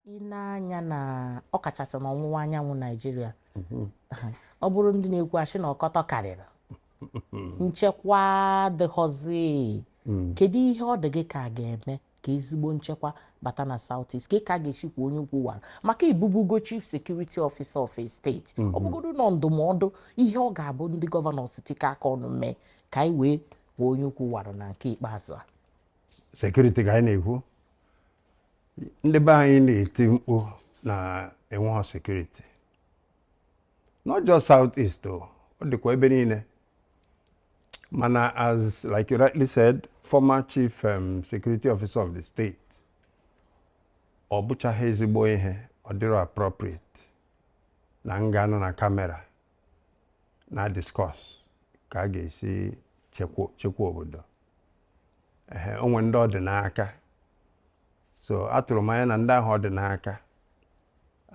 ine anya na ọkachasị n'ọwụwa anyanwụ Naijiria mhm. ọ bụrụ ndị na-ekwu asị na ọkọtọ karịrị nchekwa adịghọzi mm. kedu ihe ọ dị gị ka a ga-eme ka ezigbo nchekwa bata na South East ka a ga-esi kwọ onye ukwu wara maka ị bụbugo chief security officer of a state mhm. ọ bụgodu nọ ndụmọdụ ihe ọ ga-abụ ndị gọvanọs itikọ aka ọnụ mee ka anyị wee kwọ onye ukwu wara na nke ikpeazụ a security ka anyị na-ekwu ndị be anyị na-eti mkpu na enweghị security not just south east o ọ dịkwa ebe niile mana as like you rightly said former chief um, security officer of the state ọ bụchaghị ezigbo ihe ọ dịrọ appropriate na m ga-anọ na camera na-discuss ka a ga-esi chekwa obodo ehe o nwe ndị ọ dị n'aka so atụrụ m anya na ndị ahụ ọ dị n'aka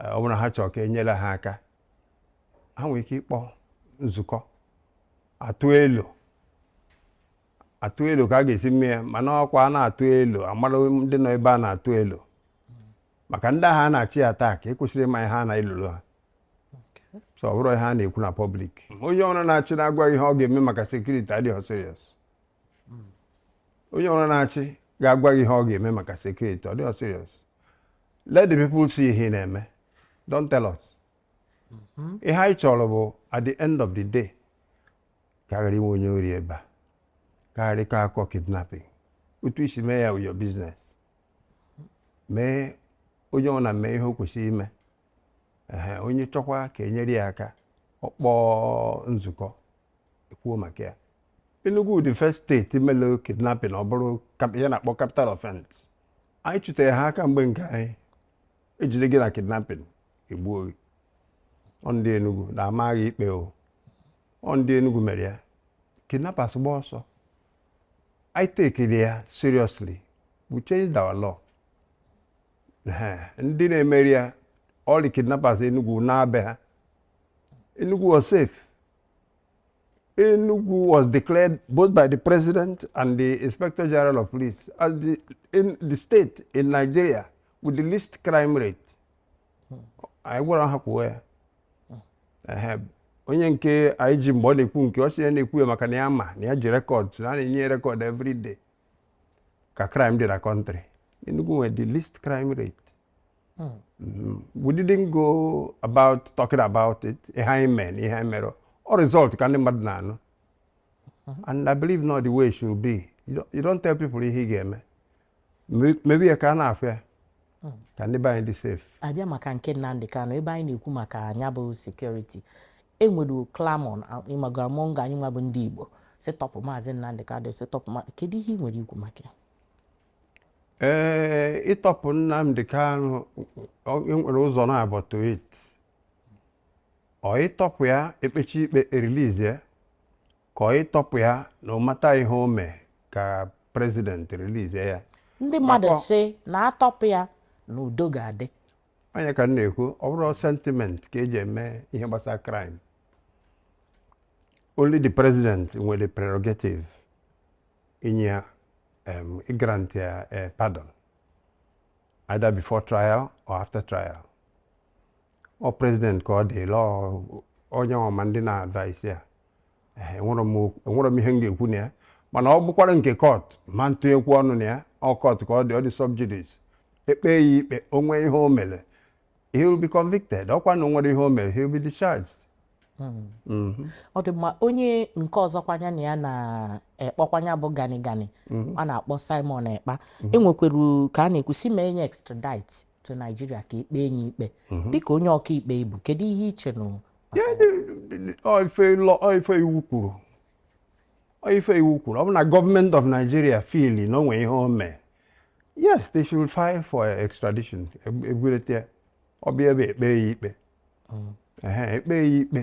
e, ọ bụrụ na ha chọrọ ka enyere ha aka ha nwere ike ịkpọ nzukọ atụ elo atụ elo ka a ga-esi mee ya mana ọ kwa a na-atụ elo a mara ndị nọ ebe a na-atụ elo maka ndị ahụ a na-achọ ị-attack ekwesịrọ ịma ihe a na-elolu ha so ọ bụrụ ihe a na-ekwu na public onye ọbụna na-achị na-agwa ihe ọ ga-eme maka security adịghị serious onye ọbụna na-achị ga-agwa gị ihe ọ ga-eme maka security ọ dịghị serious let the people see ihe ị na-eme don't tell us mm-hmm. ihe anyị chọrọ bụ at the end of the day ka a ghara inwe onye ori ebe a ka a ghara ịka akọ kidnapping otu i si mee ya is your business mee onye ọbụna mee ihe o kwesịrị ime onye chọọkwa ka enyere ya aka ọ kpọọ nzukọ ekwuo maka ya Enugu the first state mere kidnapping ọ bụrụ ihe a na-akpọ capital offense anyị chụtere ha aka mgbe nke anyị e jide gị na kidnapping egbuo gị ọ ndị Enugu na-ama gị ikpe o ọ ndị Enugu mere ya kidnappers gbaa ọsọ anyị tekiri ya seriously we changed our law ndị na-emeri ya all the kidnappers Enugu naa be ha Enugu was safe Enugu was declared both by the president and the inspector general of police as the, in the state in Nigeria with the least crime rate anyị gwara ha kwuo ya onye nke IG mgbe ọ na-ekwu nke ọ sị ya na-ekwu ya maka na ya ma na ya ji record na a na-enye record every day ka crime dị na country Enugu nwere the least crime rate hmm. mm-hmm. we didn't go about talking about it ihe anyị mee na ihe anyị mere ọ result ka ndị mmadụ na-anụ hmm. and I believe na ọ the way it should be you don't tell people ihe ị ga-eme mebe ya ka a na-afụ ya hmm. ka ndị be anyị dị safe abịa maka nke Nnamdi Kanu ebe anyị na-ekwu maka nya bụ security enwere clamour ịmago among anyị nwa bụ ndị Igbo sị tọpụ maazị Nnamdi Kanu sị tọpụ kedu ihe ị nwere ikwu maka ya ee eh, ịtọpụ Nnamdi Kanu nwere ụzọ naabọ to it ọ ịtọpụ ya ekpecha ikpe e release ka ọ ịtọpụ ya no matter ihe o mee ka president release ya ndị mmadụ sị na atọpụ ya na udo ga-adị ọ nya ka m na-ekwu ọ bụrọ sentiment ka eji eme ihe gbasara crime only the president nwere prerogative inye ya um, grant ya eh, pardon either before trial or after trial ọ president ka ọ dịlị onye ọma ndị na-advise ya enwere m ihe m ga-ekwu na ya mana ọ bụkwara nke court ma ntinyekwu ọnụ na ya ọ court ka ọ dị ọ dị sub judice ekpe ya ikpe o nwee ihe o mere he will be convicted ọkwa na o nwerọ ihe o mere he will be discharged hmm. mm-hmm. ọ dị mma onye nke ọzọkwa nya na ya na-ekpọkwa nya bụ gani gani mm-hmm. a na-akpọ Simon Ekpa mm-hmm. enwekwere ka a na-ekwu sị mee nya extradite to Nigeria ka ekpe ya ikpe mhm. dịka onye ọkaikpe ị bụ kedu ihe i che na ife iwu kwuru ife iwu kwuru ọ bụ na government of Nigeria feel na o nwe ihe o mee yes they should file for extradition egwurete ọ bịa ebe ekpe ya ikpe mm. ekpe ya ikpe